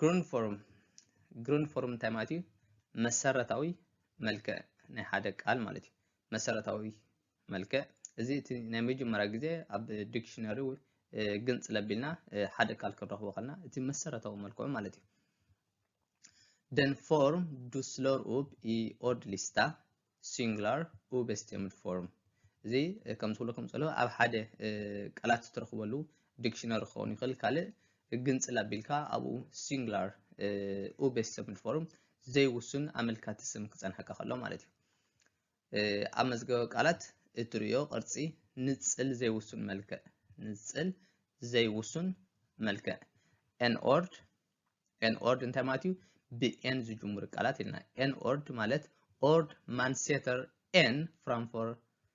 ግሩን ፎርም ግሩን ፎርም እንታይ ማለት እዩ? መሰረታዊ መልክዕ ናይ ሓደ ቃል ማለት እዩ። መሰረታዊ መልክዕ እዚ እቲ ናይ መጀመርያ ግዜ ኣብ ዲክሽነሪ ግንፅል ኣቢልና ሓደ ቃል ክንረኽቦ ከለና እቲ መሰረታዊ መልክዑ ማለት እዩ Den form du slår upp i ordlista ሲንግላር ኡበስቴምድ ፎርም እዚ ከም ዝብለኩም ዘሎ ኣብ ሓደ ቃላት እትረኽበሉ ዲክሽነሪ ክኸውን ይኽእል ካልእ ግንፅል ኣቢልካ ኣብኡ ሲንግላር ኡበስቴምድ ፎርም ዘይውሱን ኣመልካቲ ስም ክፀንሐካ ከሎ ማለት እዩ ኣብ መዝገበ ቃላት እትርእዮ ቅርጺ ንጽል ዘይውሱን መልክዕ ንጽል ዘይውሱን መልክዕ ኤን ኦርድ ኤን ኦርድ እንታይ ማለት እዩ ብኤን ዝጅምሩ ቃላት ኢልና ኤን ኦርድ ማለት ኦርድ ማንሴተር ኤን ፍራንፎር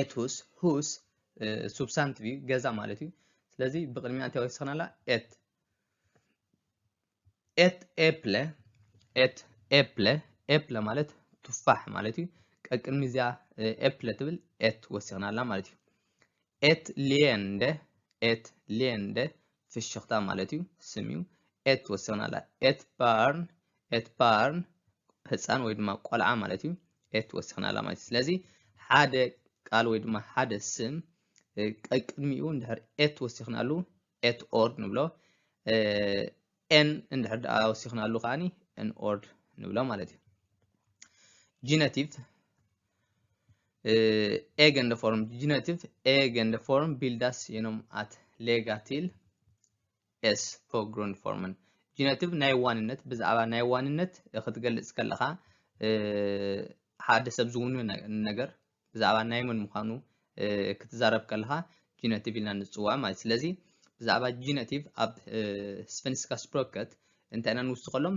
ኤትሁስ ሁስ ሱብሳንቲቭ እዩ ገዛ ማለት እዩ ስለዚ ብቅድሚያ እንታይ ወሲኽና ኣላ ኤት ኤት ኤፕለ ኤት ኤፕለ ኤፕለ ማለት ቱፋሕ ማለት እዩ ቀቅድሚ እዚኣ ኤፕለ ትብል ኤት ወሲኽና ኣላ ማለት እዩ ኤት ሊየንደ ኤት ሊየንደ ፍሽኽታ ማለት እዩ ስም እዩ ኤት ትወስኽና ኣላ ኤት ባርን ኤት ባርን ህፃን ወይ ድማ ቆልዓ ማለት እዩ ኤት ትወስኽና ኣላ ማለት እዩ ስለዚ ሓደ ቃል ወይ ድማ ሓደ ስም ቀቅድሚኡ እንድሕር ኤት ወሲኽናሉ ኤት ኦርድ ንብሎ ኤን እንድሕር ደኣ ወሲኽናሉ ከዓኒ ኤን ኦርድ ንብሎ ማለት እዩ ጂነቲቭ ኤገንደ ፎርም ጅነቲቭ ኤገንደ ፎርም ቢልዳስ የኖም ኣት ሌጋቲል ኤስ ፖግሩንድ ፎርምን ጅነቲቭ ናይ ዋንነት ብዛዕባ ናይ ዋንነት ክትገልጽ ከለኻ ሓደ ሰብ ዝውኑ ነገር ብዛዕባ ናይ መን ምዃኑ ክትዛረብ ከለኻ ጅነቲቭ ኢልና ንፅውዖ ማለት ስለዚ ብዛዕባ ጅነቲቭ ኣብ ስፈንስካ ስፕሮከት እንታይ ኢና ንውስኸሎም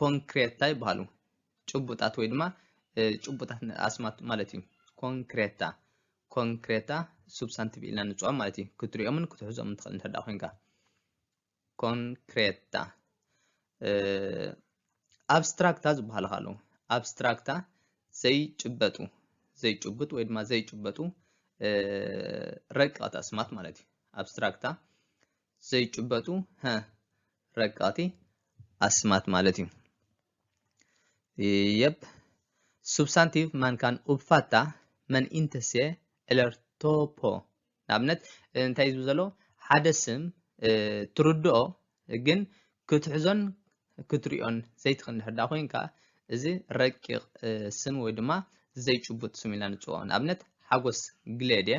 ኮንክሬት እንታይ ይበሃሉ? ጭቡጣት ወይ ድማ ጭቡጣት ኣስማት ማለት እዩ። ኮንክሬታ ኮንክሬታ ሱብሳንቲቭ ኢልና ንፅዖም ማለት እዩ። ክትሪኦምን ክትሕዞምን ትኽእል እንተ ኮንካ ኮንክሬታ ኣብስትራክታ ዝበሃሉ ካሉ ኣብስትራክታ ዘይጭበጡ ዘይጭቡጥ ወይ ድማ ዘይጭበጡ ረቂቐት ኣስማት ማለት እዩ። ኣብስትራክታ ዘይጭበጡ ረቀቕቲ ኣስማት ማለት እዩ። የብ ሱብሳንቲቭ ማንካን ኡብፋታ መን ኢንተሴ ዕለር ቶፖ ንኣብነት እንታይ እዩ ዝብል ዘሎ ሓደ ስም ትርድኦ ግን ክትሕዞን ክትሪኦን ዘይትኽእል እንድሕር ዳ ኮይንካ እዚ ረቂቕ ስም ወይ ድማ ዘይጭቡጥ ስም ኢልና ንፅውዖ ንኣብነት ሓጎስ ግሌድ እየ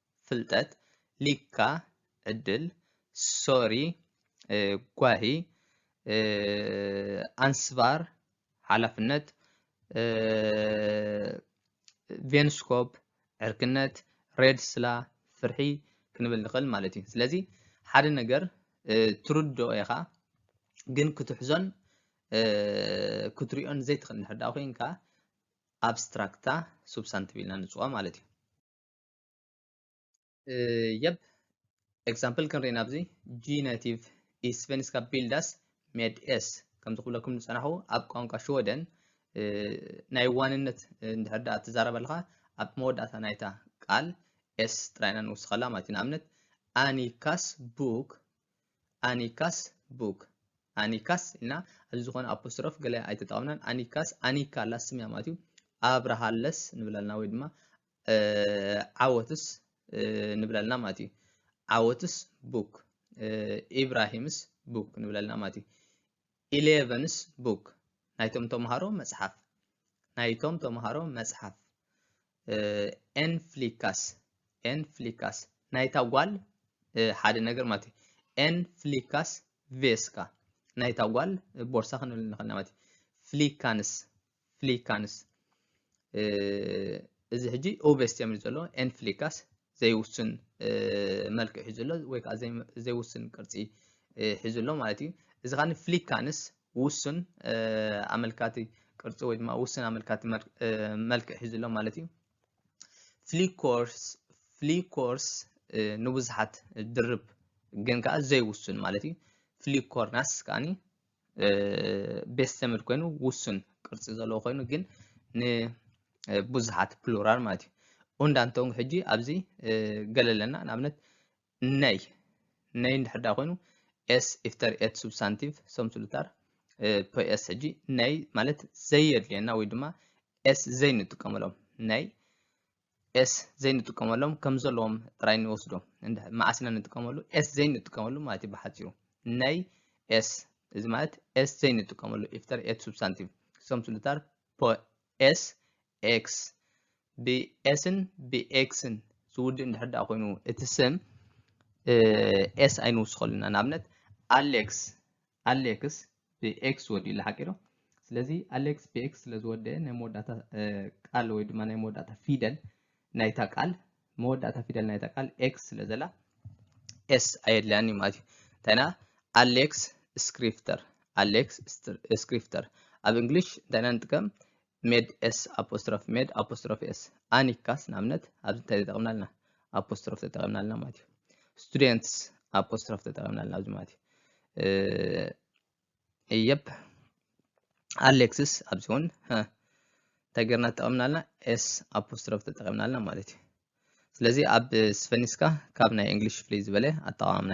ፍልጠት ሊካ ዕድል ሶሪ ጓሂ ኣንስባር ሓላፍነት ቬንስኮፕ ዕርክነት ሬድስላ ፍርሒ ክንብል ንኽእል ማለት እዩ ስለዚ ሓደ ነገር ትርድኦ ኢኻ ግን ክትሕዞን ክትሪኦን ዘይትኽእል እንድሕር ኮይንካ ኣብስትራክታ ሱብሳንቲቭ ኢልና ንፅዋ ማለት እዩ የብ ኤግዛምፕል ክንርኢ ናብዚ ጂነቲቭ ኢስቨንስካ ቢልዳስ ሜድ ኤስ ከምዚ ክብለኩም ዝፀናኹ ኣብ ቋንቋ ሽወደን ናይ ዋንነት እንድሕር ዳኣ ትዛረብ ኣለኻ ኣብ መወዳእታ ናይታ ቃል ኤስ ጥራይና ንውስኸላ ማለት እዩ ንኣብነት ኣኒካስ ቡክ ኣኒካስ ቡክ ኣኒካስ ኢልና ኣብዚ ዝኾነ ኣፖስትሮፍ ገለ ኣይተጠቐምናን ኣኒካስ ኣኒካ ኣላ ስምያ ማለት እዩ ኣብርሃለስ ንብለልና ወይ ድማ ዓወትስ ንብለልና ማለት እዩ ዓወትስ ቡክ ኢብራሂምስ ቡክ ንብለልና ማለት እዩ ኢሌቨንስ ቡክ ናይቶም ተምሃሮ መጽሓፍ ናይቶም ተምሃሮ መጽሓፍ ኤን ፍሊካስ ኤን ፍሊካስ ናይታ ጓል ሓደ ነገር ማለት እዩ ኤን ፍሊካስ ቬስካ ናይታ ጓል ቦርሳ ክንብል ንኽእል ማለት እዩ ፍሊካንስ ፍሊካንስ እዚ ሕጂ ኦቨስት እዮም ዘሎ ኤን ፍሊካስ ዘይውስን መልክዕ ሒዙ ኣሎ ወይ ከዓ ዘይውስን ቅርፂ ሒዙ ኣሎ ማለት እዩ እዚ ከዓ ፍሊካንስ ውሱን ኣመልካቲ ቅርፂ ወይ ድማ ውሱን ኣመልካቲ መልክዕ ሒዙ ኣሎ ማለት እዩ ፍሊኮርስ ፍሊኮርስ ንብዙሓት ድርብ ግን ከዓ ዘይውሱን ማለት እዩ ፍሊኮርናስ ከዓኒ ቤስ ዘመድ ኮይኑ ውሱን ቅርፂ ዘለዎ ኮይኑ ግን ንብዙሓት ፕሉራል ማለት እዩ ኡንዳ እንተውን ሕጂ ኣብዚ ገለ ኣለና ንኣብነት ነይ ነይ እንድሕር ዳ ኮይኑ ኤስ ኢፍተር ኤት ሱብሳንቲቭ ሰምስሉታር ፖኤስ ሕጂ ነይ ማለት ዘየድልየና ወይ ድማ ኤስ ዘይንጥቀመሎም ነይ ኤስ ዘይንጥቀመሎም ከም ዘለዎም ጥራይ ንወስዶ መዓስ ኢና ንጥቀመሉ ኤስ ዘይንጥቀመሉ ማለት እዩ ብሓፂሩ ናይ ኤስ እዚ ማለት ኤስ ዘይንጥቀመሉ ኢፍተር ኤት ሱብሳንቲቭ ክሰም ስሉታር ኤስ ኤክስ ብኤስን ብኤክስን ዝውድእ እንድሕር ዳኣ ኮይኑ እቲ ስም ኤስ ኣይንውስኸሉ ኢና ንኣብነት ኣሌክስ ኣሌክስ ብኤክስ ወዲኡላ ሓቂ ዶ ስለዚ ኣሌክስ ብኤክስ ስለ ዝወደአ ናይ መወዳእታ ቃል ወይ ድማ ናይ መወዳእታ ፊደል ናይታ ቃል መወዳእታ ፊደል ናይታ ቃል ኤክስ ስለ ዘላ ኤስ ኣየድልያን እዩ ማለት እዩ እንታይና ኣሌክስ ስክሪፍተር ኣሌክስ ስክሪፍተር ኣብ እንግሊሽ እንታይና ንጥቀም ሜድ ኤስ ኣፖስትሮፍ ሜድ ኣፖስትሮፍ ኤስ ኣኒካስ ንኣብነት ኣብዚ እንታይ ተጠቕምና ኣለና ኣፖስትሮፍ ተጠቒምና ኣለና ማለት እዩ ስቱደንትስ ኣፖስትሮፍ ተጠቒምና ኣለና ኣብዚ ማለት እዩ የፕ ኣሌክስስ ኣብዚ እውን እንታይ ገርና ተጠቐምና ኣለና ኤስ ኣፖስትሮፍ ተጠቒምና ኣለና ማለት እዩ ስለዚ ኣብ ስፈኒስካ ካብ ናይ እንግሊሽ ፍልይ ዝበለ ኣጠቓቕምና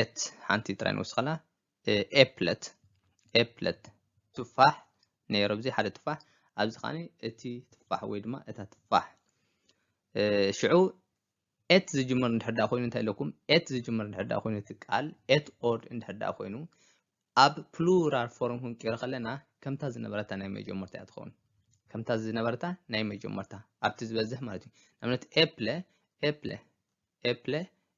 ኤት ሓንቲ ጥራይ ንወስኸላ ኤፕለት ኤፕለት ትፋሕ ነይሩ ኣብዚ ሓደ ትፋሕ ኣብዚ ከዓኒ እቲ ትፋሕ ወይ ድማ እታ ትፋሕ ሽዑ ኤት ዝጅምር እንድሕር ዳ ኮይኑ እንታይ ኢለኩም ኤት ዝጅምር እንድሕር ዳ ኮይኑ እቲ ቃል ኤት ኦርድ እንድሕር ዳ ኮይኑ ኣብ ፕሉራል ፎርም ክንቅይሮ ከለና ከምታ ዝነበረታ ናይ መጀመርታ እያ ትኸውን ከምታ ዝነበረታ ናይ መጀመርታ ኣብቲ ዝበዝሕ ማለት እዩ ንኣብነት ኤፕለ ኤፕለ ኤፕለ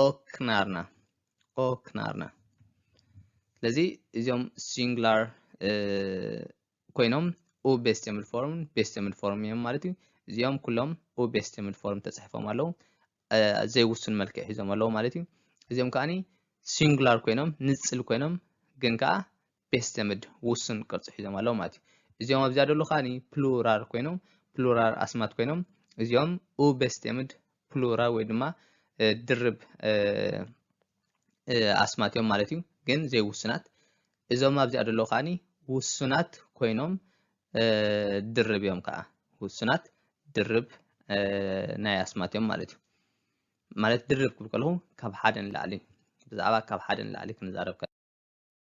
ኦክናርና ኦክናርና ስለዚ እዚኦም ሲንግላር ኮይኖም ኡ ቤስተምል ፎርም ቤስተምል ፎርም እዮም ማለት እዩ እዚኦም ኩሎም ኡ ቤስተምል ፎርም ተፅሒፎም ኣለዉ ዘይውሱን መልክዕ ሒዞም ኣለዉ ማለት እዩ እዚኦም ከዓኒ ሲንግላር ኮይኖም ንፅል ኮይኖም ግን ከዓ ቤት ዘመድ ውሱን ቅርጺ ሒዞም ኣለዉ ማለት እዩ። እዚኦም ኣብዚኣ ደሎ ከዓኒ ፕሉራል ኮይኖም ፕሉራል ኣስማት ኮይኖም እዚኦም ኡ ቤት ዘመድ ፕሉራል ወይ ድማ ድርብ ኣስማት እዮም ማለት እዩ። ግን ዘይውሱናት እዞም ኣብዚኣ ደሎ ከዓኒ ውሱናት ኮይኖም ድርብ እዮም ከዓ ውሱናት ድርብ ናይ ኣስማት እዮም ማለት እዩ። ማለት ድርብ ክብል ከለኹ ካብ ሓደ ንላዕሊ ብዛዕባ ካብ ሓደ ንላዕሊ ክንዛረብ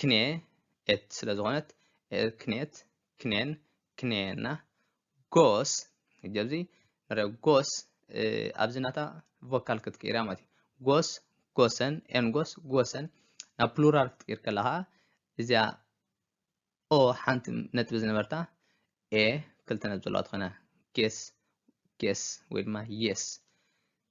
ክኔ ኤት ስለ ዝኾነት ክኔት ክኔን ክኔና ጎስ ጀብዚ ንሪኦ ጎስ ኣብዚ ናታ ቮካል ክትቅይራ ማለት እዩ ጎስ ጎሰን ኤን ጎስ ጎሰን ናብ ፕሉራል ክትቅይር ከለኻ እዚኣ ኦ ሓንቲ ነጥቢ ዝነበርታ ኤ ክልተ ነጥቢ ዘለዋ ትኾነ ጌስ ጌስ ወይ ድማ የስ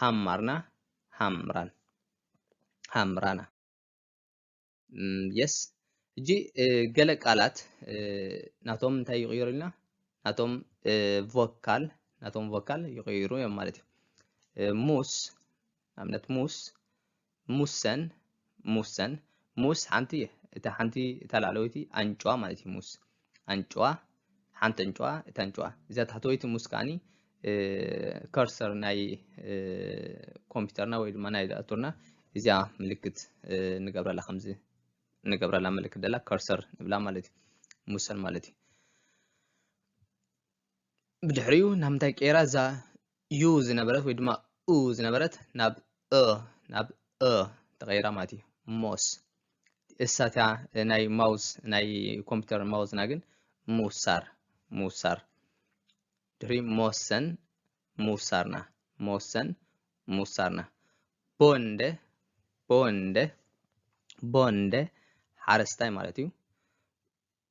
ሃማርና ሃምራን ሃምራና የስ እጂ ገለ ቃላት ናቶም እንታይ ይቕይሩ ኢልና ናቶም ቮካል ናቶም ቮካል ይቕይሩ እዮም ማለት እዩ ሙስ ኣብነት ሙስ ሙሰን፣ ሙሰን፣ ሙስ ሓንቲ እታ ሓንቲ እታ ላዕለወይቲ ኣንጭዋ ማለት እዩ ሙስ ኣንጭዋ ሓንቲ ኣንጭዋ እታ ኣንጭዋ እዛ ታሕተወይቲ ሙስ ከዓኒ ከርሰር ናይ ኮምፒውተርና ወይ ድማ ናይ ዳእቶርና እዚኣ ምልክት ንገብረላ ከምዚ ንገብረላ ምልክት ደላ ከርሰር ንብላ ማለት እዩ ሙሰን ማለት እዩ ብድሕሪኡ ናብ ምንታይ ቀይራ እዛ ዩ ዝነበረት ወይ ድማ ኡ ዝነበረት ናብ እ ናብ እ ተቐይራ ማለት እዩ ሞስ እሳትያ ናይ ማውዝ ናይ ኮምፒውተር ማውዝና ግን ምውሳር ምውሳር ድሕሪ መወሰን ምውሳርና መወሰን ምውሳርና ቦንደ ቦንደ ቦንደ ሓረስታይ ማለት እዩ